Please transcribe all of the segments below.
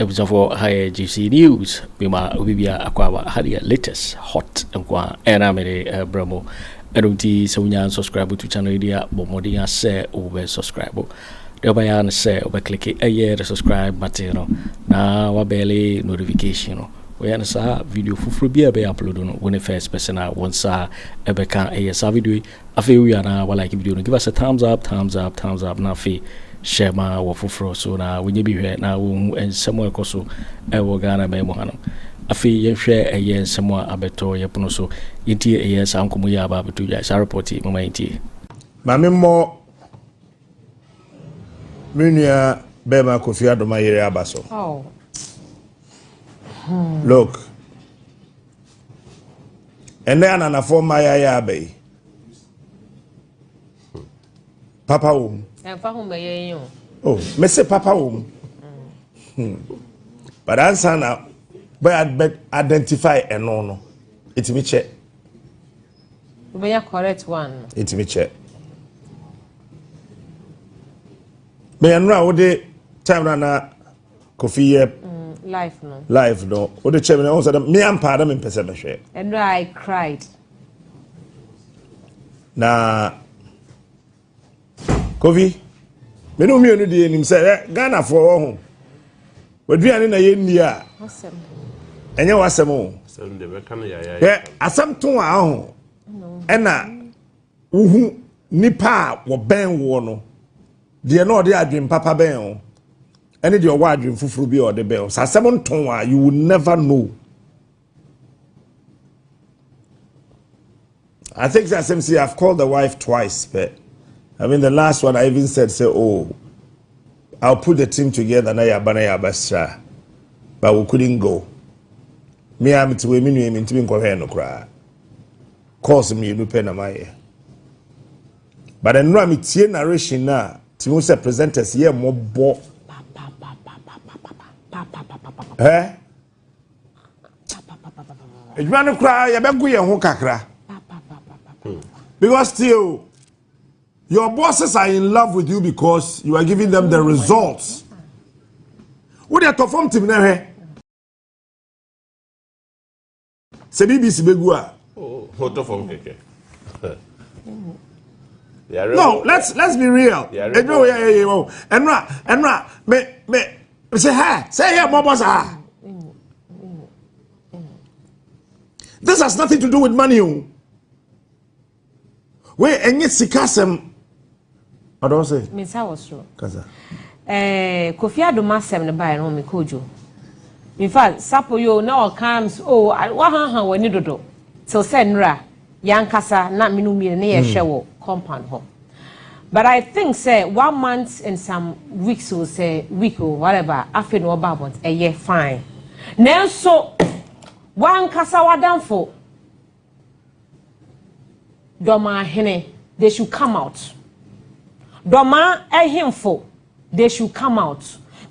abusuafoɔ ha yɛ gypsy news mema obi bia akɔ aba ha deɛ latest hot nko a ɛna mede brɛ mo ɛno nti sɛ wonya subscribe to channel yi deɛ bɔ mmɔden asɛ wobɛ subscribe Deɛ wobɛyɛ ara ne sɛ wobɛklike ɛyɛ the subscribe button no na wabɛle notification no. Woyɛ no saa video foforɔ bi a ɛbɛyɛ upload no, wo ne first person a wo nsa ɛbɛka ɛyɛ saa video yi. Afei wowie a na walike video no, give us a thumbs up, thumbs up, thumbs up na afei hyɛ ma wɔ foforɔ so na wɔnyɛ bi hwɛ na wɔhu nsɛm a ɛkɔ so ɛwɔ Ghana man mu hanom. Afei yɛnhwɛ ɛyɛ nsɛm a abɛtɔ yɛ pono so yɛntie ɛyɛ saa nkɔmmɔ yi a aba abɛtɔ dwa saa report yi mama yɛntie. Maame mmɔ Me nua bɛrima Kofi Adoma yere aba so. Oh. Hmm. Look. Ɛnɛ ananafoɔ mmaa yɛ ayɛ aba yi. Papa wɔ mu. Ɛnfa ho bɛyɛ yi o. Oh, me se papa wɔ mu. Hmm. But ansa na bɛ identify ɛno no, ɛtumi kyɛ. Wobɛnya correct one no. Nti me kyɛ. Meyɛ nnora wode time na na kofi yɛ mm, life no life no wode kyɛ me na ɔhu sɛ dɛ me ampa na mempɛ sɛ mehwɛ. Nnora I cried. Na kofi me ne mmienu deɛ anim sɛ ɛ ghanafoɔ wɔ ho waduane na yɛnni a ɛnyɛ w'asɛm o ɛ asɛm to a ho ɛna wohu nipa a wɔbɛn woɔ no deɛ na ɔde adwen papa bɛn o ɛne deɛ ɔwɔ adwen foforɔ bi a ɔde bɛn o sɛ asɛm nto a you will never know I think that same see I've called the wife twice, but I mean the last one I even said say oh I'll put the team together na yaba na yaba sra but we couldn't go. Me I'm to me nua me ntimi nkɔhwɛ no koraa. Course mmienu pɛ na mayɛ. But nnura me tie narration na ti ho sɛ presenters yɛ mmɔbɔ. Ɛ adwuma no koraa yɛbɛgo yɛn ho kakra because still your bosses are in love with you because you are giving them the results wode ɛtɔ fam tim na hwɛ sɛ bbc bɛgu a hotɔ fam kɛkɛ no let's let's be real ɛdwuma wo yɛ yɛ yɛ wɔ ɛno a ɛno a me me sɛ ha sɛ yɛ bɔbɔ saa this has nothing to do with money o. Oh. wei ɛnyɛ sika asɛm ɔdɔ sɛ mesa wɔ soro kasa eh, kofi adom asɛm no baeɛ no mekɔ odwo mefa sapo yo na ɔka m o oh, wahaha w'ani dodo till sɛ nnura yankasa na mene mmienu ne yɛhwɛ mm. wɔ compound hɔ but i think sɛ one month and some weeks o sɛ week o whatever afei na ɔba abɔnt ɛyɛ fine nanso wankasa wadamfo Dɔmaa hene, they should come out. Dɔmaa ahemfo, they should come out.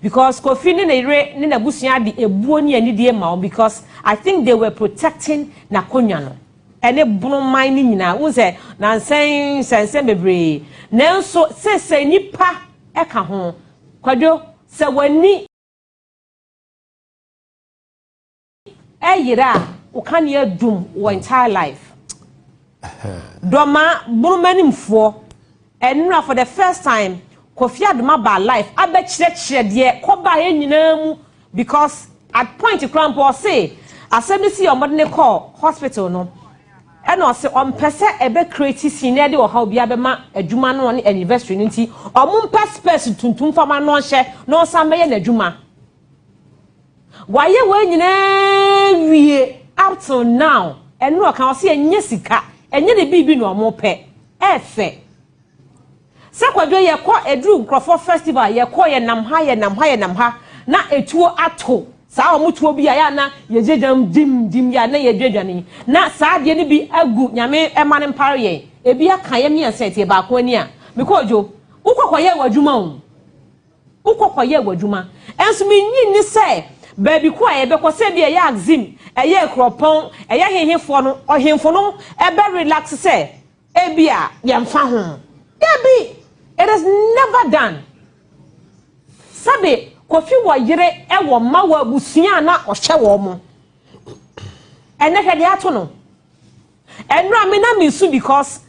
Because Kofi ne ne yere ne n'abusua de ebuo ne anidie ma wɔn because I think they were protecting n'akonnwa no ɛne bonoman ne nyinaa n sɛ nansɛn nsɛnsɛn bebree nanso seesei nipa ɛka ho kwadwo sɛ w'ani ɛyera a wo kanea adum wɔ entire life dɔma bonomanim foɔ ɛnora for the first time kofi adoma ba life abɛkyerɛkyerɛ deɛ kɔba yɛ nyinaa mu because at point kora mpo ɔse asɛm bi si ɔmɔde ne kɔ hospital no ɛna ɔse ɔmpɛ sɛ ɛbɛ create sin na ɛde ɔhaw bi abɛma adwuma no ne anniversary no nti ɔmo mpɛ spɛs tuntum fama no ɔnhyɛ na ɔsan bɛyɛ n'adwuma Wayɛ wei nyinaa wie up till now. Ɛno ɔka ɔse ɛnyɛ sika, ɛnyɛ ne biribi na ɔmo pɛ. Ɛfɛ. Sɛ kwadwo yɛkɔ eduru nkorɔfoɔ festival yɛkɔ yɛnam ha yɛnam ha yɛnam ha na etuo ato saa ɔmo tuo bi a yɛ a na yɛgye gyam dim dim yɛ a na yɛdwa dwane na saa adeɛ no bi agu nyame ɛma no mpare yɛn ebi aka yɛ miɛnsa ɛteɛ baako ani a mekɔ odwo wokɔ kɔyɛ w'adwuma o. Wokɔ kɔyɛɛ w'adwuma. Nso minnye nni sɛ baabi ko a yɛbɛkɔ, sɛ ebia ɛyɛ Axim, ɛyɛ Akuropɔn, ɛyɛ hehefoɔ no, ɔhemfo no bɛ relax sɛ ebia yɛmfa ho. Dabi! It is never done. Sɛbe Kofi wɔ yere, wɔ mma, wɔ abusua a na ɔhwɛ wɔn. Ɛnnɛ hwɛ deɛ ato no. Ɛnora me na me su because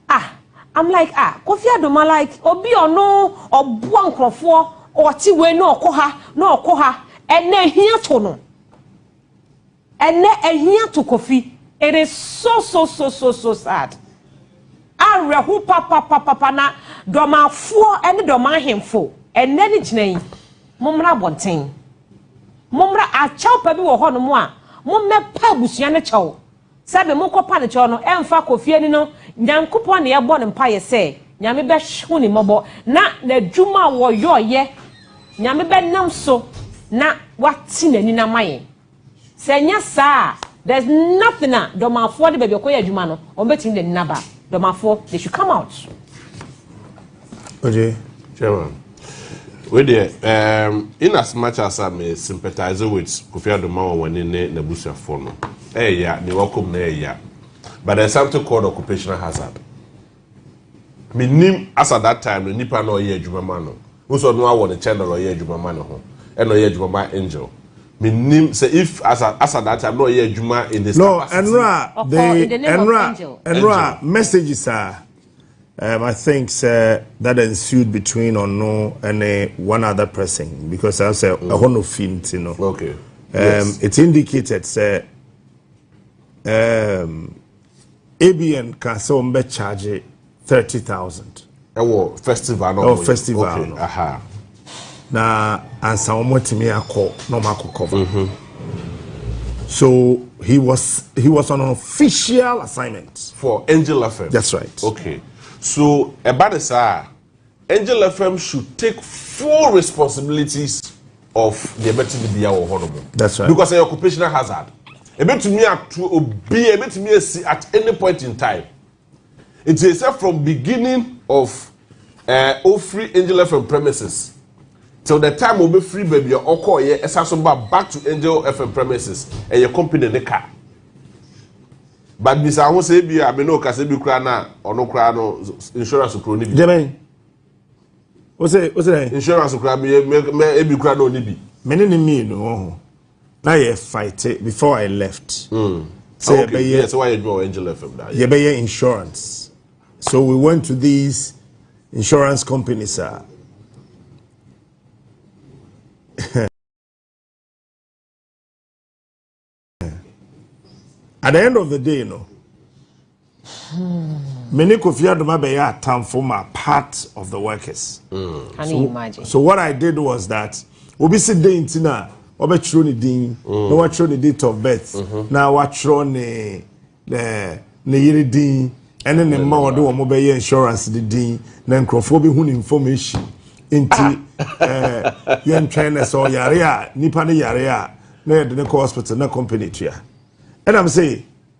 ah I'm like ah Kofi Adoma like obi ɔno ɔboa nkorɔfoɔ ɔte wei na ɔkɔ ha na ɔkɔ ha ɛnɛ ɛhia to no ɛnɛ ɛhia to Kofi it is so so so so so sad awerɛho papapapapa na dɔmafoɔ ɛne dɔma ahemfo ɛnɛ ne gyina yi mommra abɔnten mommra akyɛw pa bi wɔ hɔ nom a mommɛpa abusua ne kyɛw Sɛbe mo kɔ pa no kyɛw no ɛnfa kɔ fie ne no Nyankopɔn na yɛbɔ no mpaeɛ sɛ Nyame bɛ hu ne mmɔbɔ na n'adwuma a wɔyɔ yɛ Nyame bɛ nam so na wate n'ani no ama yɛn sɛ ɛnyɛ saa a there's nothing a Dɔmafoɔ de baabi ɔkɔ yɛ adwuma no wɔn bɛtumi de n'ani no aba Dɔmafoɔ they should come out. Okay, Chairman. Wei deɛ, um, in as much as I may sympathize with Kofi Adoma Wawani ne n'abusuafoɔ no, ɛyɛ ya, ne wakom na ɛyɛ ya. But there's something called occupational hazard. Menim as at that time no nipa na ɔyɛ adwuma ma no. Wosɔ no awɔ ne channel ɔyɛ adwuma ma ne ho. Ɛna ɔyɛ adwuma ma angel. Menim sɛ if as at, as at that time na ɔyɛ adwuma in his no, capacity. No, ɛnora, the, ɛnora, ɛnora messages a. Um, I think sɛ that ensued between ɔno ɛne one other person because I sɛ mm. ɛhɔ no fi nti no. Okay. Um, yes. It's indicated sɛ um, ABN ka sɛ wɔn bɛ charge thirty thousand. Ɛwɔ festival no. Ɛwɔ festival no. Okay. Aha. na ansa wɔn atumi akɔ na wɔn akɔ cover mm -hmm. so he was he was on an official assignment for angel fm that's right okay so ɛba de saa angel fm should take full responsibilities of the ɛbɛte de bia wɔ hɔ no mu that's right because ɛyɛ occupational hazard ɛbɛtumi ato obi ɛbɛtumi asi at any point in time Nti ɛsɛ from beginning of ɛɛ eh, ofiri Angel FM premises till the time ɔbɛfiri baabi a ɔkɔɔyɛ ɛsa so ba back to Angel FM premises ɛyɛ company ne ka but bisa ho sɛ ebi a me ne ɔkasa bi koraa na ɔno koraa no insurance kuro ne bi. jẹmẹ o sẹ o sẹ. insurance kura mi mẹ ebi kura náà ni bi. mi ni ni mmienu ọhún. na yɛ fighte before I left sɛ ah, yɛbɛyɛ yɛbɛyɛ insurance so we went to these insurance companies a. Uh, at the end of the day, you know, Me ne Kofi Adom abɛyɛ atamfo ma part of the workers. Can you imagine? So what I did was that obi si den nti na wɔbɛtwerɛ ne din na wɔatwerɛ ne date of birth na wɔatwerɛ ne eh, ne yere din ɛne ne mma wɔde wɔn bɛyɛ insurance ne din na nkurɔfoɔ bɛhu ne information nti eh, yɛntwɛn na sɛ ɔyare a nipa ne yare a na yɛde ne kɔ hospital na company tua ɛnam sɛ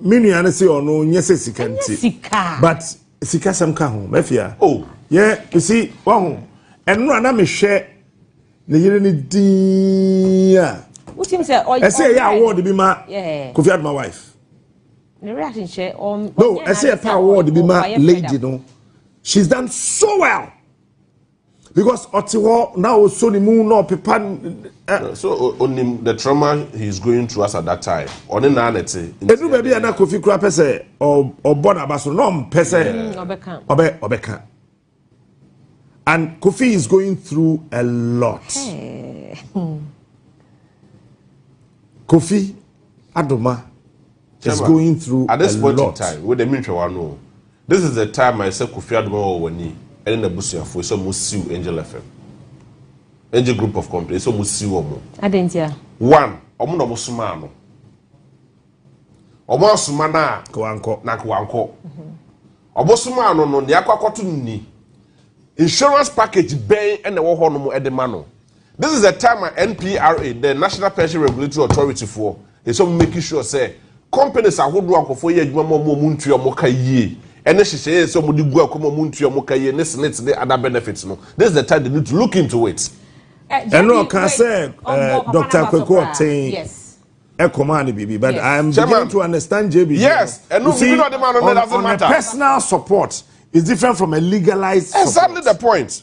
Me nua no se ɔno nyɛ sɛ sika nti. Sika. But sika sɛm ka ho. Mafia. Oh. Yeah, you see, wahu. Ɛno a na mehwɛ ne yere ne din a. Wotim sɛ ɔyɛ. Ɛsɛ yɛ award bi ma. Yeah. Kofi Adoma wife. Ne reaction hyɛ ɔm. No, ɛsɛ yɛ pa award bi ma lady no. She's done so well. because ɔte hɔ na ɔsɔ ne mu na ɔpepa. Eh. so onim the trauma he is going through as at that time ɔne naa na ɛte. edu baabi a na kofi kura pɛ sɛ ɔbɔ n'aba so na ɔmpɛ sɛ ɔbɛka ɔbɛ ɔbɛka and kofi is going through a lot. Hey. Hmm. kofi adoma. It's going through a lot. At this point in time, wo de menhwɛ w'ano o. This is the time a ɛsɛ Kofi Adoma wɔ w'ani ɛne n'abusuafoɔ ɛsɛ ɔmo siw Angel FM, Angel Group of Company ɛsɛ ɔmo siw ɔmo. Adɛn ntia? One, ɔmo na ɔmo somaa no. Ɔmo asoma no a. Kawankɔ. Na kawankɔ. Ɔmo somaa no no, nea akɔ akɔto no ni. Insurance package bɛn ɛna ɛwɔ hɔ nom ɛde ma no. This is a time a NPRA, the National Pension Regulatory Authority foɔ ɛsɛ wɔn make sure sɛ companies ahodoɔ a nkurɔfoɔ yɛ adwuma ma wɔn a wɔntua wɔn ka yie ɛne hyehyɛeɛ a ɛsɛ wɔde gu akɔ ma wɔntua wɔn ka yie ne SSNIT ne other benefits no this is the time they need to look into it. Ɛno ɔka sɛ Doctor Kweku Ɔten ɛkɔmaa no biribi but I am beginning to understand JB. Yes, ɛno biribi na ɔde maa no ne doesn't matter. On a personal support is different from a legalized support. Exactly the point.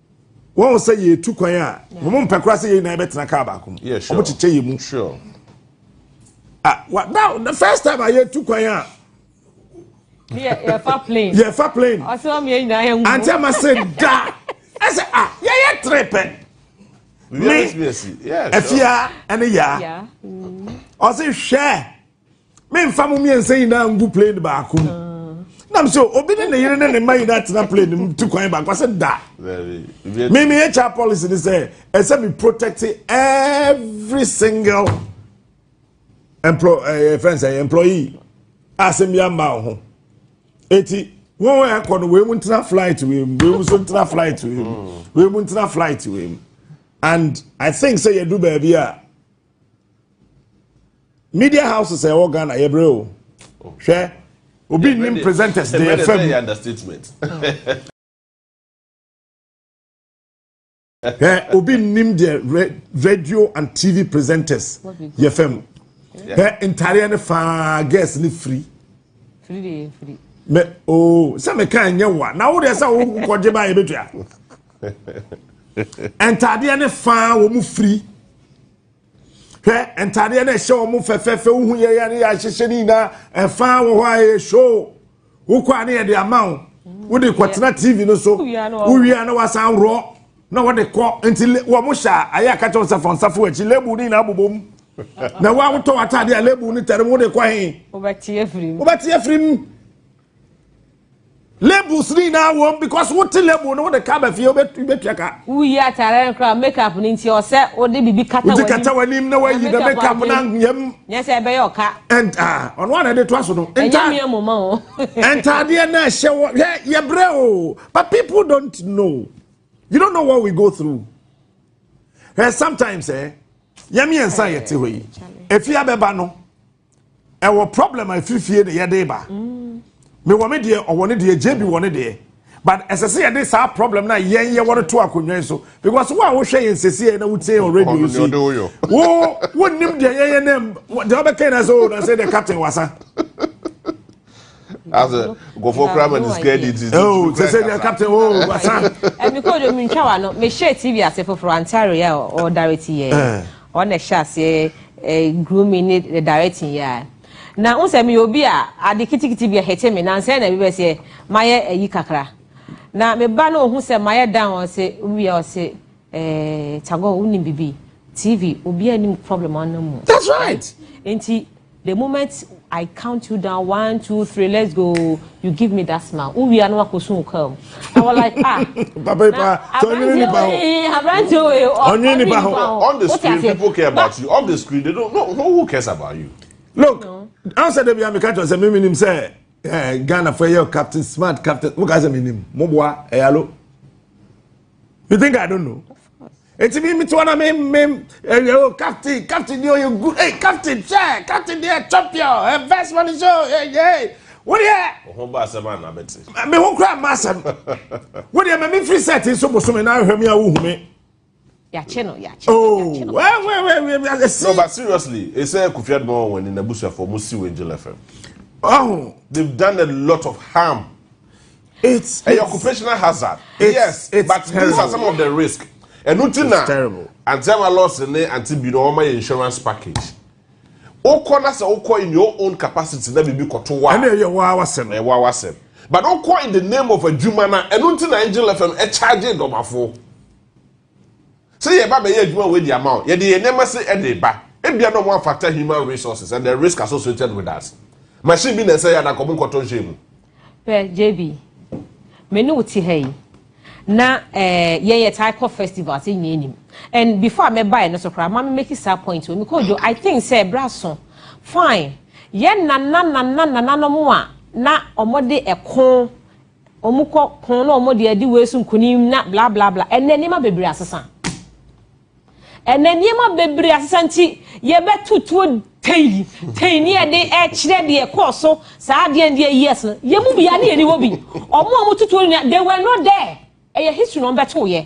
wɔn sɛ yɛtu kwan a wɔn mpɛ koraa sɛ yɛn nyinaa bɛtena kaa baako mu wɔn kyekyɛ yɛn mu ah wa now the first time a yɛtu kwan a yɛfa plane yɛfa plane ɔsɛ wɔn yɛn nyinaa yɛn mu ante ama sɛ da ɛsɛ ah yɛyɛ tere pɛ me afia ɛne yaa ɔsɛ hwɛ. memfa mo mmiɛnsa nyinaa ngu plane baako mu nam sɛ obi ne ne yere ne ne mma nyinaa tena plane mu ti kwan baako sɛ da me me hr policy ne sɛ ɛsɛ me protect every single employ ɛyɛ eh, fɛn sɛ employee a asɛm bi ama wo ho eti wɔn a ɛkɔ no wɔn mu ntena flight wei mu wɔn mu nso ntena flight wei mu wɔn mu ntena flight wei mu and i think sɛ yɛdu baabi a. media houses a ɛwɔ ghana yɛbrɛ o hwɛ obi nim presenters de yɛ fam hwɛ obi nim deɛ radio and tv presenters yɛ fam hwɛ ntareɛ no faa gas no firi mɛ oo sɛ meka nyɛ wa na wo deɛ sɛ wokɔgye ba yɛbɛtua ntadeɛ ne faa wɔn firi hwɛ ntadeɛ no ɛhyɛ wɔn fɛfɛɛfɛ wohu yɛ yɛ ne yɛ ahyehyɛ ne nyinaa ɛfaa wɔ hɔ a ɛyɛ show wokɔ a ne yɛde ama wo wode kɔtena tv no so wowia na wasan worɔ na wɔde kɔ nti wɔn hyɛ a ayɛ akakyɛ wɔn sɛ fɔn safo akyi lebu ne nyinaa bobom na wo awotɔ w'atadeɛ a lebu ne tɛrɛ mu wode kɔ he wobɛteɛ firi mu Labels ni nyinaa wɔ mu because wote label no wode ka ba fie wobɛtua ka. Woyi atare no koraa make up no nti ɔsɛ wode biribi kata w'anim. Wode kata w'anim na wayi na make up no anyam. Nyɛ sɛ ɛbɛyɛ ɔka. Ɛnta ɔno ana de toa so no. Ɛnyɛ mmea mu ma o. Ntaadeɛ na ɛhyɛ wɔ hwɛ yɛbrɛ o but people don't know you don't know what we go through. Hwɛ sometimes eh yɛmi yɛn nsa yɛte hɔ yi efi abɛba no ɛwɔ problem a ɛfiri fie na yɛde ba mewɔ me deɛ ɔwɔ ne deɛ gye bi wɔ ne deɛ but ɛsɛ sɛ yɛde saa problem no a yɛn yɛwɔ no to akonnwa yi so because wo a wohwɛ yɛn sɛsie na wotie yɛn radio yi so wo wonnim deɛ yɛyɛ nam deɛ wobɛka nyina sɛ o oh, na sɛ deɛ captain wasa asɛ nkɔfoɔ kora ma ne sika di nti oh sɛ sɛ deɛ captain o oh, basa ɛmi kɔ de mentwa wa no mehyɛ tv ase foforɔ antare a ɔdare ti yɛ ɔna hyɛ aseɛ grooming ne eh, directing yɛ a na n sɛ meyɛ obi a ade kitikiti bi ahete me nansɛ na bibɛ seɛ mayɛ ayi kakra na meba na ɔhu sɛ mayɛ dan ɔ se wia ɔse eh, tagɔ wonim bibi tv obi anim problem ɔno mu that's right nti The moment I count you down one two three let's go you give me that smile wo wia na wakɔ sun wo kaa mu I was like ah papa ipa sɛ ɔnyini nipa ho aberante o ee ɔnyini nipa ho on the screen people care about you off the screen they don't no who cares about you. look ansa de bia meka kyerɛ sɛ me menim sɛ eh, ghana fo ɛyɛ captain smart captain mo ka sɛ menim moboa ɛyalo eh, you think i don't know eti mi mi ti wana mi mi ɛyɛ o captain captain ni o yɛ good hey captain hwɛ captain ni yɛ champion ɛ best man show ɛ yɛ wo deɛ. ɔho ba asɛm a na bɛ te. mi ho kura ma asɛm wo deɛ mɛ mi firi sɛ ti nso bosomi na ahwɛ mi a wohu mi. yàkyẹ no yàkyẹ no oh, yàkyẹ no. wẹ́ẹ́ wẹ́ẹ́ wẹ́ẹ́ wẹ́ẹ́ ẹ si. no but seriously esẹ kofi adumọ wọn ni n'abusuafo ọmọ si wọ angel fm. ọhún. they've done a lot of harm. it's ɛyɛ occupational hazard yes but these are some of the risk ɛnu ti na anti ama loss ne anti bi na wɔn ma yɛ insurance package okɔ na sɛ okɔ in your own capacity na biribi kɔto wa ɛna ɛyɛ wa awasɛm ɛyɛ wa awasɛm but okɔ in the name of adwuma na ɛnu ti na angel fm ɛcharge dɔmafo. Sɛ yɛreba abɛyɛ adwuma wei de ama wo, yɛde yɛn nneɛma se de reba. Ebia na wɔamfata human resources and the risk associated with that. Machine bi na ɛsɛ yɛ a, na nka wɔnkɔtɔ nhyɛ mu. Hwɛ, JB, me ne wo te ha yi, na eh, yɛn yɛtaa kɔ festivals, yɛn nyinaa nim. And before a mɛbaeɛ no so koraa, ma me make saa point wɔ, mekɔ odwo, I think sɛ ɛberɛ aso, fine, yɛn nana nana nananom a na wɔde ɛko Wɔn kɔ ko na wɔn deɛ di wei so nkunim na bla bla bla. Ɛnɛ nneɛma bebree asesa. Ɛnɛ nneɛma bebree asesa nti yɛbɛto tuo tei tei ne yɛde ɛkyerɛ deɛ ɛkɔɔ so saa adeɛ deɛ years no yɛn mu bia ne yɛni hɔ bi wɔn a wɔn tutuo nyinaa they were not there ɛyɛ history na wɔn bɛto yɛ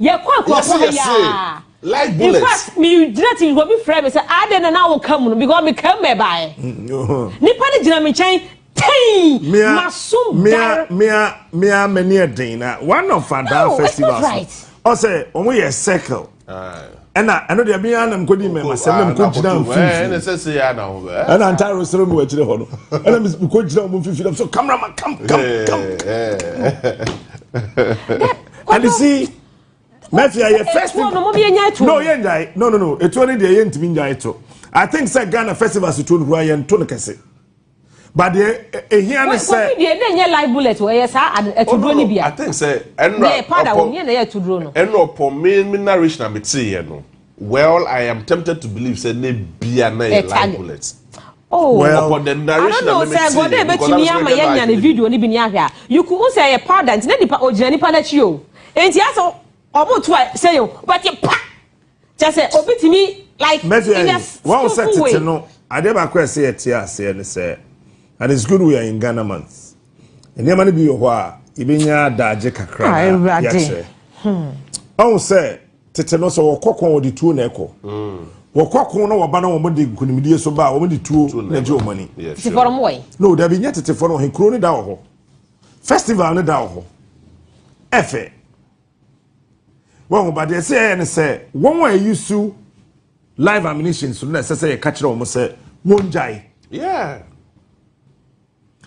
Yɛkɔ akuapɔn ha yɛ a. Live bullet. In fact, mi gyina ti obi frɛ mi sɛ adan na na woka mu no because mi ka mu na ɛbaeɛ. Nipa no gyina mi nkyɛn tɛn ma so dar. Mia mia m'ani ɛden na one of adan festivals. Ɔsɛ wɔn yɛ circle. ɛna ɛno deɛ me ara na mekɔdi oh, mmɛmasɛm ah, na mekɔgyina mfimfiniɛna ntare srɛ mu akyire hɔ no ɛna mekɔgyina ɔmo mfimfini so cameraman kam kam kam and you see mɛfi ayɛ first no yɛ nyae no no no ɛtuo no deɛ yɛntumi nyae to i think sɛ ghana festivals tuo no kura yɛnto no kɛse but deɛ ehia ne sɛ. kofi deɛ ne nyɛ live bullet wɔ ɛyɛ saa atuduro ni bia. i think sɛ ɛnna ɔpɔ deɛ pada wɔ nyɛ na ɛyɛ atuduro no. ɛnna ɔpɔ mi mi narration a mi ti yɛ no well i am tempted to believe sɛ ne bia na yɛ live bullet. Oh, well, upon the narration I don't know. Sɛ God ebe tumi ama yɛ nya ne video ni bi ni ahwɛ a. You could say yɛ powder nti ne nipa ogyina nipa n'akyi o. Nti asɛ ɔmo tu a sɛ yɛ o bɛti pa. kyɛ sɛ obi tumi like Mɛfia in a wɔn sɛ skillful way. tete no adeɛ baako a ɛsɛ yɛte aseɛ ne sɛ and it's good we are in Ghana month nneɛma no bi wɔ hɔ a yɛbɛnya adagye kakra Ah, na Awurade. yɛakyerɛ ɔhu sɛ tete no sɛ wɔkɔ ko a wɔde tuo na ɛkɔ wɔkɔ ko na wɔba na wɔde nkonimdie so ba a wɔde tuo na ɛgye wɔn ani Yeah, Tefo no sure. mowɔ yi. no dabi nyɛ tetefoɔ no wɔ he kuro no da wɔ hɔ festival no da wɔ hɔ ɛfɛ wɔn ba deɛ ɛsɛ yɛyɛ ne sɛ wɔn a ɛyi su live ammunition so na ɛsɛ sɛ yɛka kyerɛ wɔn sɛ wɔn gyae. yeah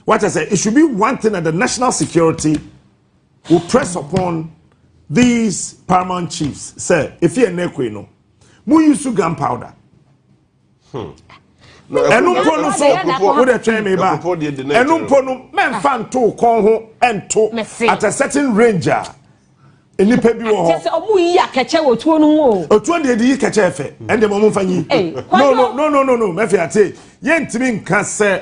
what i say it should be one thing that the national security will press upon these paramount chiefs sɛ efi ɛnna ekoi no mo yi su gunpowder. ɛno mpo no so wodɛ twɛn me ba ɛno mpo no mɛmfa nto kɔn ho ɛnto at a certain range a nnipa bi wɔ hɔ. kyɛ sɛ ɔmo yi akɛkyɛ wɔ tuo no mu o. otuo deɛ de yi kɛkyɛ fɛ ɛnde mo ɔmo nfa nyi. no no no no no mɛfi ate yɛntumi nka sɛ.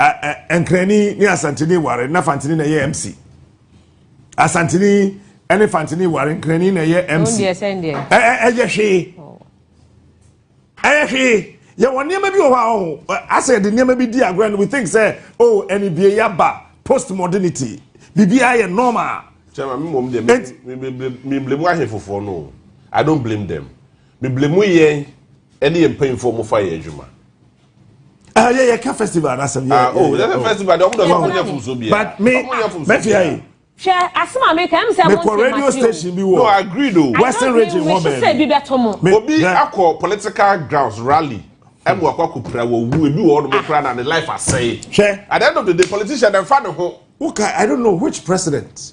Ɛ ɛ Nkrani ne Asanteni ware na Fanteni na ɛyɛ MC. Asanteni ne Fanteni ware Nkrani na ɛyɛ MC. Ɛ ɛ Ɛyɛ hwee. Ɛyɛ hwee. Yɛwɔ nneɛma bi wɔ hɔ a ɔho asɛ yɛde nneɛma bi di agorɔ and we think sɛ oh ɛne bie yaba postmodernity biribiara yɛ normal. Kyɛma me mmom deɛ me blame ahwe fofoɔ no I don't blame them me blame yɛn ɛne yɛn mpanyinfoɔ mo fa yɛ adwuma Ah, yeah, yeah, ka festival na asem. Yeah, ah, oh, yeah, yeah, oh. festival. Don't don't don't don't so bia. But me, me fi ayi. Hwɛ asem a meka ɛm sɛ mo nti radio station bi wɔ. No, I agree though. Western region wɔ bɛn. Sɛ bi bɛ to mo. Obi akɔ political grounds rally. Ɛmu akɔ akɔ pira wɔ wu ebi wɔ ɔdɔm kura na ne life asɛe. Hwɛ. At the end of the day politician dem fa ne ho. Wuka I don't know which president.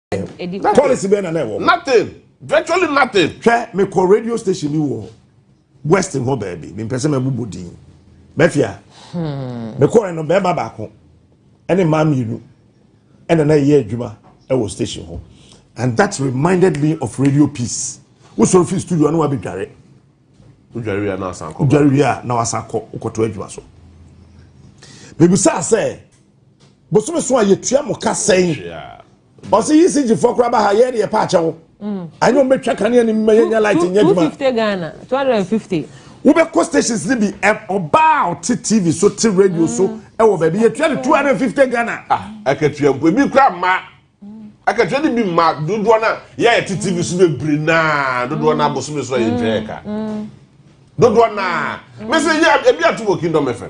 Nothing. Policy bɛn na na ɛwɔ hɔ. Nothing. Virtually nothing. Hwɛ mekɔ radio station bi wɔ West hɔ baabi. Mempɛ sɛ mɛbobɔ din. Mafia. Hmm. Mekɔɛ no bɛrima baako ɛne mmaa mmienu ɛna na ɛyɛ adwuma ɛwɔ station hɔ. And that reminded me of radio peace. Wosɔre fi studio ano wabɛdware. Wodware wia na wasan kɔ. Wodware wia na wasan kɔ wokɔto adwuma so. Mebisa sɛ bosome so a yɛtua mo ka sɛn ɔsɛ yi si gyifoɔ koraa ba ha yɛ deɛ paakyɛ wo anyɛ wɔn bɛtwa kanea ne mma yɛnya light nyɛ adwuma 250 Ghana 250 wobɛkɔ stations no bi ɔbaa ɔte tv so te radio so mm. ɛwɔ baabi yɛtua no 250 Ghana ah, akatua mpo ebi kora mma akatua no bi mma dodoɔ no a yɛyɛ te tv so bebree naa dodoɔ no abosome so a yɛntwa yɛ ka mm. dodoɔ naa mɛsɛ yɛ ebi ato wɔ kingdom fm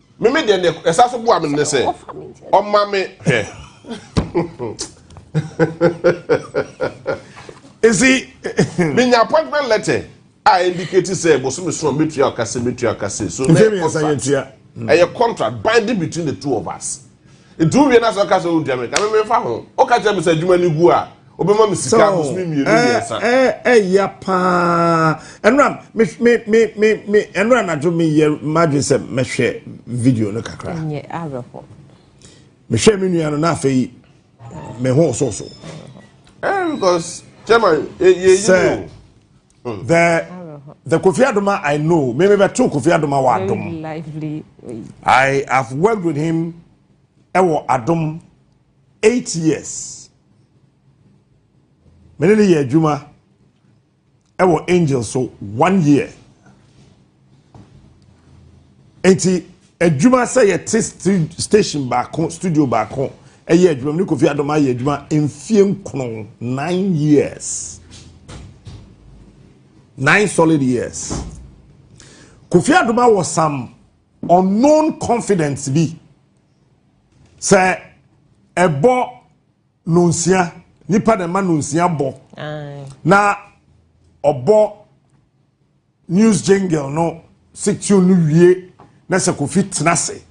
Me me deɛ ne ɛsa so boa me ne sɛ ɔma me hwɛ. Esi menya appointment letter a indicate sɛ bosome so a metua ɔkase metua ɔkase so ɛyɛ contract ɛyɛ contract binding between the two of us. Nti wowie na sɛ ɔka sɛ wodua me ka me mefa ho. Ɔka kyerɛ me sɛ adwuma no gu a Wobɛma me sika abosome mmienu mmiɛnsa. Ɛya paa. Ɛnora me me me me me ɛnora anadwo me yɛ madwene sɛ mɛhwɛ video no kakra. Nyɛ awerɛho. Mehwɛ me nua no na afei me ho so so. Eh because chairman ye ye ye. The the Kofi Adoma I know. Me me beto Kofi Adoma wa Adom. Lively. I have worked with him ɛwɔ Adom eight years. Me ne no yɛ adwuma wɔ angel so one year. Nti adwuma sɛ yɛte station baako studio baako ɛyɛ adwuma ne Kofi Adoma yɛ adwuma mfie nkono nine years nine solid years Kofi Adoma wɔ some unknown confidence bi. Sɛ ɛbɔ nonsia nipa na ɛma nonsia bɔ na ɔbɔ news jingle no section no wie na sɛ kofi tena se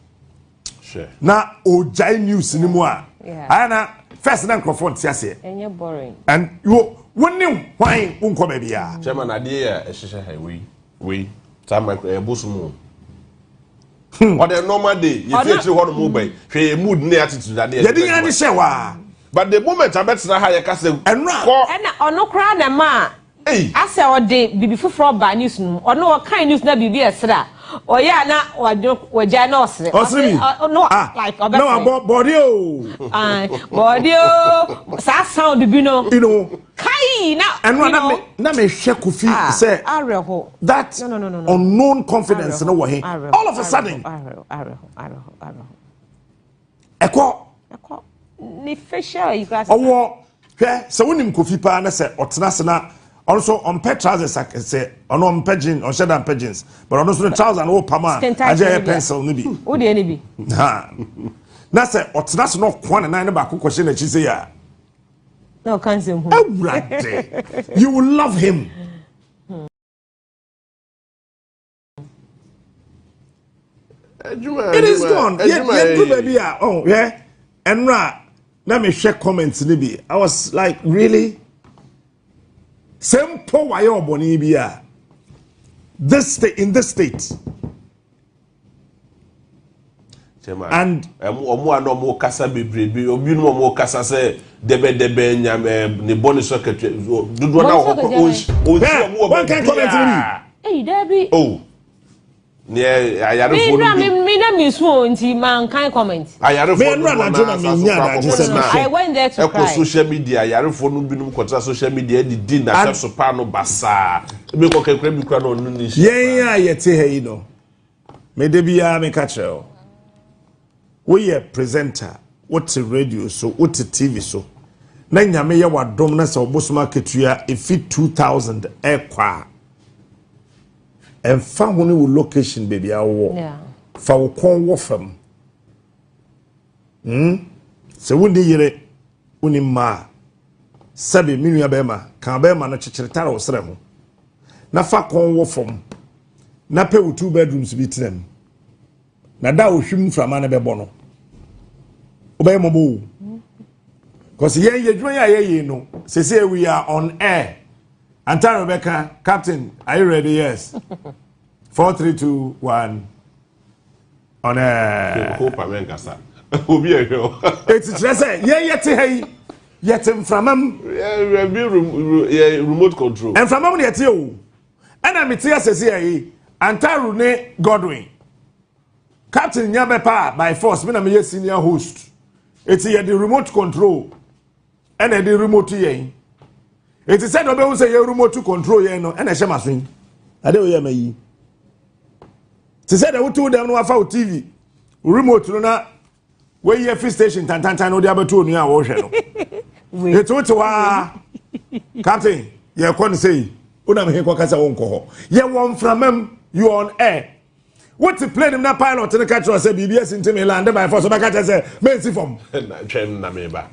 na ɔgyae news no mu a ayɛ na first na nkurɔfoɔ nte aseɛ and wo wo ne hwan wo nkɔ baabi a. kyɛma na adeɛ yɛ ɛhyehyɛ ha wei wei saa micro ɛyɛ bosom o. Hmm. ɔdɛ normal day yɛfi akyiri hɔ no mu bɛn hwɛ yɛ mood ne attitude adeɛ yɛde yɛn ani hyɛ hɔ a but the moment abɛtena ha yɛka sɛ kɔ ɛna ɔno koraa na ɛma a asɛ ɔde biribi foforɔ ɔbaa news no mu ɔno ɔkan news na biribi ɛsrɛ a ɔyɛ a na wagyae na ɔsrɛ ɔsrɛ mi ah na wabɔ bɔɔde o bɔɔde o saa sound bi no Kai na ɛno a na me na me hwɛ kofi ah, sɛ that unknown confidence no wɔ he all of a sudden ɛkɔ ne facial yi kura sɛ ɔwɔ hwɛ sɛ wonim kofi paa na sɛ ɔtena ase na ɔno nso ɔmpɛ trousers sɛ ɔno ɔmpɛ jeans ɔnhyɛ da mpɛ jeans but ɔno nso ne trousers no wopam a agye yɛ pencil no bi wodeɛ no bi na sɛ ɔtena ase na ɔkoa ne nan no baako kɔhyɛ n'akyi sɛ yɛ a na ɔka nsɛm hu awurade you will love him it is gone yɛdu baabi a ɔn hwɛ ɛnora na mehwɛ comment no bi i was like really sɛ mpo wayɛ ɔbɔne bi a this state in this state and ɔmo a na ɔmo kasa bebrebe obi no ɔmo kasa sɛ dɛbɛdɛbɛ nyame ne bɔ ne so akatua dodoɔ na ɔhɔ kɔ onsi ɔmo wɔ baabiaa eyi dɛbi o oh. neɛ ayarefoɔ no bi mi na mi su o nti ma n kan comment ayarefoɔ no dodoɔ na asa so kɔ akɔkɔ tena ɛkɔ social media ayarefoɔ no binom kɔtena social media ɛde di na sɛ so paa no basaa Ebi kɔ kɛkura bi kura na ɔno ni nhyia. Yɛn a yɛte ha yi no, me da biara me ka kyerɛ o. Woyɛ presenter, wote radio so, wote TV so, na nyame yɛ wadom na sɛ ɔbosom akatua efi 2000 ɛkɔ a, ɛnfa ho ne wo location baabi a wowɔ, fa wo kɔn wɔ fam. Hmm? Sɛ wo ni yere, Wonni mma a, sɛbe me nua bɛrima ka abɛɛma no kyekyere tare wo serɛ ho na fa kɔn wɔ fam na pɛ wo two bedrooms bi tena mu. Na da a ohwim mframa no bɛbɔ no, wobɛyɛ mmɔbɔ o. Because yɛn yɛ adwuma yi a yɛyɛ no, sese we are on air. Antare bɛka, Captain, are you ready? Yes. 432 1. Ɔnɛ. Koko pa mɛ nkasa. Obi ɛhwɛ o. Eti kyerɛ sɛ yɛn yɛte ha yi yɛte mframa mu. Yɛ bi yɛ remote control. Mframa mu na yɛte o. Ɛna mi te asɛsi ɛyi Antaru ne Godwin. Captain nya bɛ pa by force mi na mi yɛ senior host. Eti yɛ de remote control. ɛna ɛde remote yɛn eti sɛ na ɔbɛhu sɛ yɛ remote control yɛn no ɛna ɛhyɛ ma so yi ade oyɛ ma yi te sɛ na wotu dɛm no wafa wo tv remote no na woyi afi station tantantan na ɔde abɛto onua a wɔrehwɛ no eti wote hɔ aa captain yɛkɔ no sɛ yi wonam he kɔ kasa wɔn kɔ hɔ yɛ wɔn mframam you on air. wote plane mu na pilot no ka kyerɛ sɛ biribi asi nti me lande by force wobɛka kyerɛ sɛ mensi fam twɛn na meba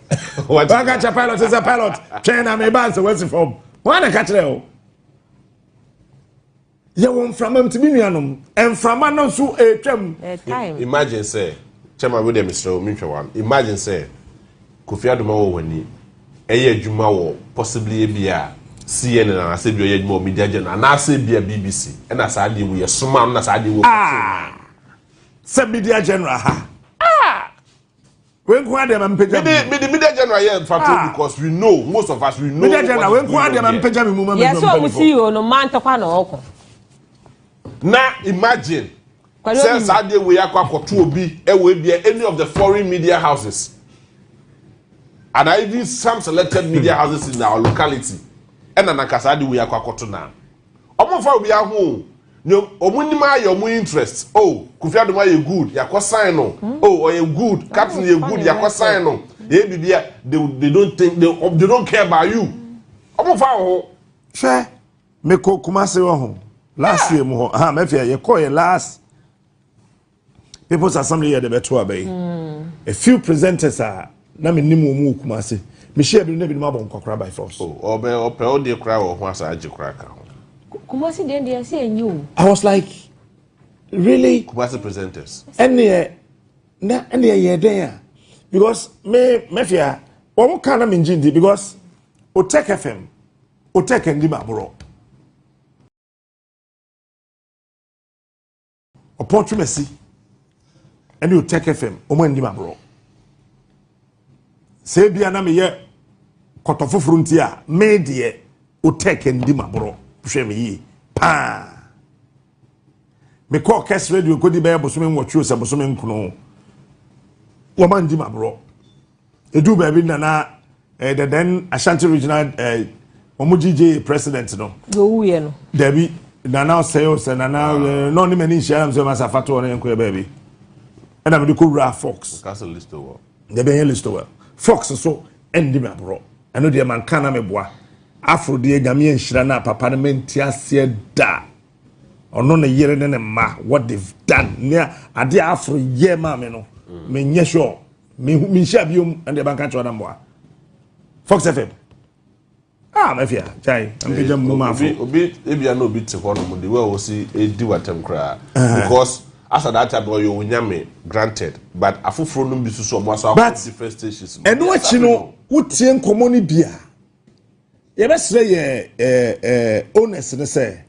waka kyerɛ pilot sɛ pilot twɛn na meba sɛ woasi fam wɔn na ka kyerɛ o yɛwɔ mframa mu ti mi nuanom mframa no nso ɛretwam imagine sɛ kyɛma wo deɛ mesrɛ wo mentwɛ wa imagine sɛ Kofi Adomah wɔ wani ɛyɛ adwuma wɔ possibly ebia CNN anaasɛ ebia ɔyɛ adwuma wɔ Media General anaasɛ ebia BBC ɛna saa adeɛ wu yɛsomaa no na saa adeɛ wu ɔkɔtoo no. Ah! Sɛ Media General ha. Ah! Wei nko adeɛ ma mpagya mu. Mede mede Media General yɛ mfato ah! because we know most of us we know. Media General wei nko adeɛ ma mpagya mu ma mɛdwa mpagya mu. Yɛsɛ ɔmo CEO no mantɔkwa na ɔkɔ. Na imagine. Sɛ saa adeɛ wei akɔ akɔto obi ɛwɔ ebia any of the foreign media houses and even some selected media houses in our locality ɛna nanka saa adeɛ wei akɔ akɔto na ɔmo nfa obi aho o ne ɔmo nim ayɛ ɔmo interest o oh, Kofi Adom ayɛ good yakɔ sign no hmm. o oh, ɔyɛ good captain yɛ good yakɔ sign no yɛ bibi a they they don't think they, they don't care about you ɔmo nfa wɔ ho. Me kɔ Kumasi wɔ ho last year mu hɔ ha mɛ fia yɛ kɔ yɛ last people's assembly yɛ de bɛ to abɛ yi hmm. a few presenters a ah, na me nim wɔn mu wɔ Kumasi me hyɛ ebinom na ebinom abɔ nkɔkora by force. Oh, ɔbɛ ɔpɛ ɔde kora wɔ ho asa agye kora ka ho. Kumasi den de ɛsɛ enyi o. I was like really. Kumasi presenters. Ɛni yɛ na ɛni yɛ yɛ den a because me mɛ fia wɔn kan na mi n gyi ndi because o tech fm. Otɛ kɛndi ma borɔ. Ɔpɔ twemasi ɛne otɛ kɛfɛm ɔmo andi ma borɔ. Sɛ ebia na meyɛ kɔtɔ foforɔ nti a me deɛ otɛ kɛndi ma borɔ hwɛ me yie paa. Mekɔɔ Kes Radio kɔdi bɛyɛ bosome nwɔtwe o sɛ bosome nkono o. Wɔma ndi ma borɔ. Ɛduu baabi na na eh, the then Ashanti Regional eh, wɔn GJ president no. Yowuiɛ no. Dabi nana ɔsɛe o sɛ nana ah. eh, na ɔne m'ani nhyia nam sɛ masa fa toɔ ne nkɔyɛ baabi. Ɛna mede kɔwura Fox. Dabi ɛnyɛ Listowell. Fox so ɛndi ma borɔ. Ɛno deɛ manka na meboa. Afro deɛ nyame anhyira no a papa no mente aseɛ da ɔno ne yere ne ne mma what they've done ne ade a afro yɛ maa me no mm. menyɛ sure menhyia biom ɛne deɛ banka kyerɛ no mmoa fox fm ah mafia gyae mpagya mu ma afro obi ebia na obi te hɔ nom de wa wɔsi edi watam koraa ah. because Asa that time no ɔyɛ wo nyame granted but afoforo nom bi susu ɔmo aso akɔ different stations no. But ɛno akyi no wo tie nkɔmɔ no bi a yɛbɛsrɛ yɛ ɛɛ owners no sɛ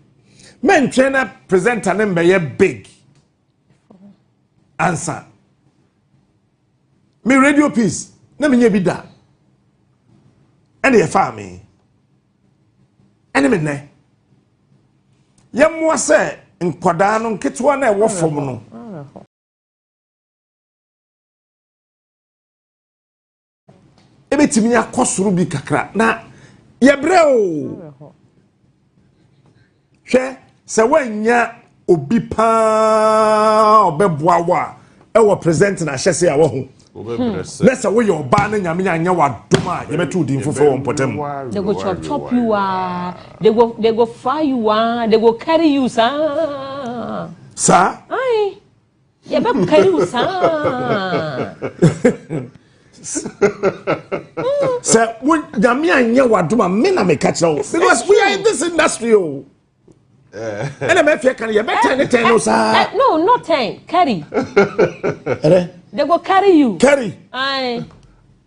mɛntwɛn na presenter no mbɛyɛ big ansa me radio piece na menyɛ bi da ɛna yɛfaa me. ɛne me nnɛ yɛmmoa sɛ nkwadaa no nketewa no ɛwɔ fam no ɛbɛtumi akɔ soro bi kakra na yɛbrɛ o Hwɛ, sɛ woannya obi paa ɔbɛboa wo a ɛwɔ present na ahyɛse a wahu na sɛ woyɛ ɔbaa na nyame anyɛ w'adom a yɛbɛto din foforɔ wɔ mpɔtam they go chop chop you ah they go they go fry you ah they go carry you saa saa Yɛbɛkari wo saa. sɛ wo nyame anyɛ w'adom a me na meka kyerɛ wo because we are in this industry o ɛna mɛfiɛ ka no yɛbɛtɛn ne tɛn no saa no no tɛn carry they go carry you carry Aye.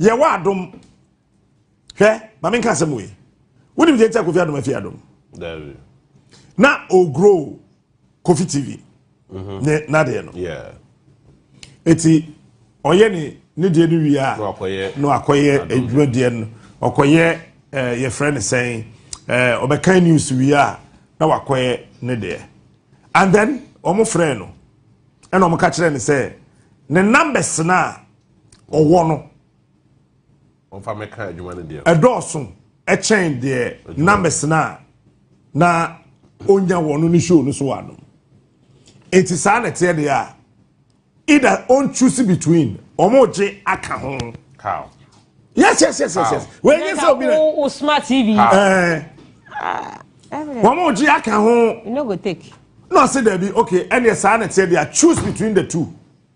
yɛwɔ adom hwɛ ma menka asɛm wei wonim deɛ nti a kofi adom afi adom na ɔgrow kofi tv mhm. ne nadeɛ no ɛti ɔyɛ ne ne deɛ no wie a na akɔyɛ adwuma deɛ no ɔkɔyɛ eh, yɛfrɛ no sɛn eh, ɔbɛkan news wie a na wakɔyɛ ne deɛ and then wɔn frɛ no ɛna wɔn ka kyerɛ no sɛ ne numbers no a ɔwɔ no ɛdɔɔso ɛkyɛn deɛ na mɛsena a na ɔnya wɔn no ne show no so wɔ anom nti saa na ɛteɛ deɛ a either on choose between ɔmo gye aka ho. How? Yes, yes, yes, yes, yes. Wẹ́n yẹn sẹ́ obi rẹ̀. O smart TV. Ẹ̀ẹ́. Wọ́n mú jí aka ho. You no go take. No, I say dẹ̀bi okay ẹni ẹ̀ sáà nà tiẹ̀ di a choose between the two.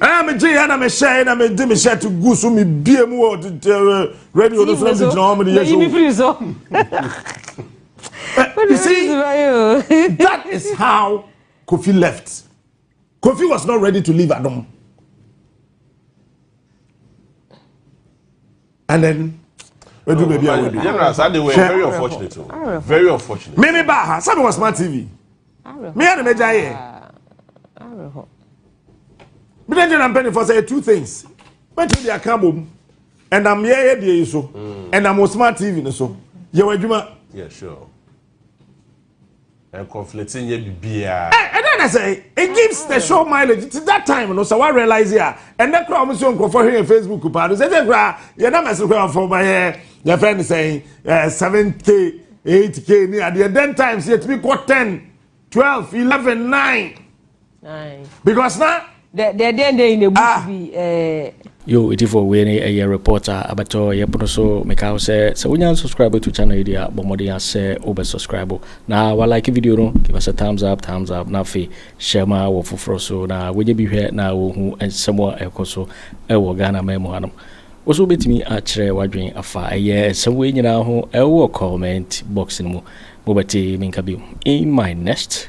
ɛna me gye yɛ na me hyɛ na me de me hyɛ to gu so me bie mu wɔ radio no so na me gyina hɔ me de yɛ so. you see that is how Kofi left Kofi was not ready to leave Adom. and then wadu baabi a wadu. general saa de wɛ very unfortunate o oh. very unfortunate. mi mi ba ha sani wɔ smart tv mi yɛ ni mi gya yɛ mi de general mpanyinfo sɛ two things bɛtumi de aka bom ɛnam yɛ yɛ deɛ yi so ɛnam wɔ smart tv ni so yɛ wɔ adwuma. Yeah, sure. Ɛ conflict nyɛ bibiaa. Ɛ ɛdɛ na sɛ it gives the show mileage ti that time no sɛ wa realize a ɛnɛ kura wɔn si nkurɔfoɔ hwɛ yɛn Facebook paa no sɛ sɛ kura yɛn nam ɛsɛ kura fɔ ba yɛ yɛ fɛn ne sɛn ɛ seven k eight k ni adeɛ den times yɛ tumi kɔ ten twelve eleven nine. because na. dɛ dɛ dɛn dɛn na ebusu ah. bi ɛɛ. yo etifo wei ne ɛyɛ report a abɛtɔ ɛyɛ pono so meka ho sɛ sɛ wonya nsubscribe to channel yi deɛ a bɔ mmɔden a sɛ wobɛ subscribe na walike video no give us a thumbs up thumbs up na afei hyɛ ma wɔ foforɔ so na wonyɛ bi hwɛ na wɔhu nsɛm a ɛkɔ so ɛwɔ ghana man mu hanom wo so wobɛtumi akyerɛ wadwen afa ɛyɛ nsɛm wei nyinaa ho ɛwɔ comment box no mu mobɛte menka bio in my next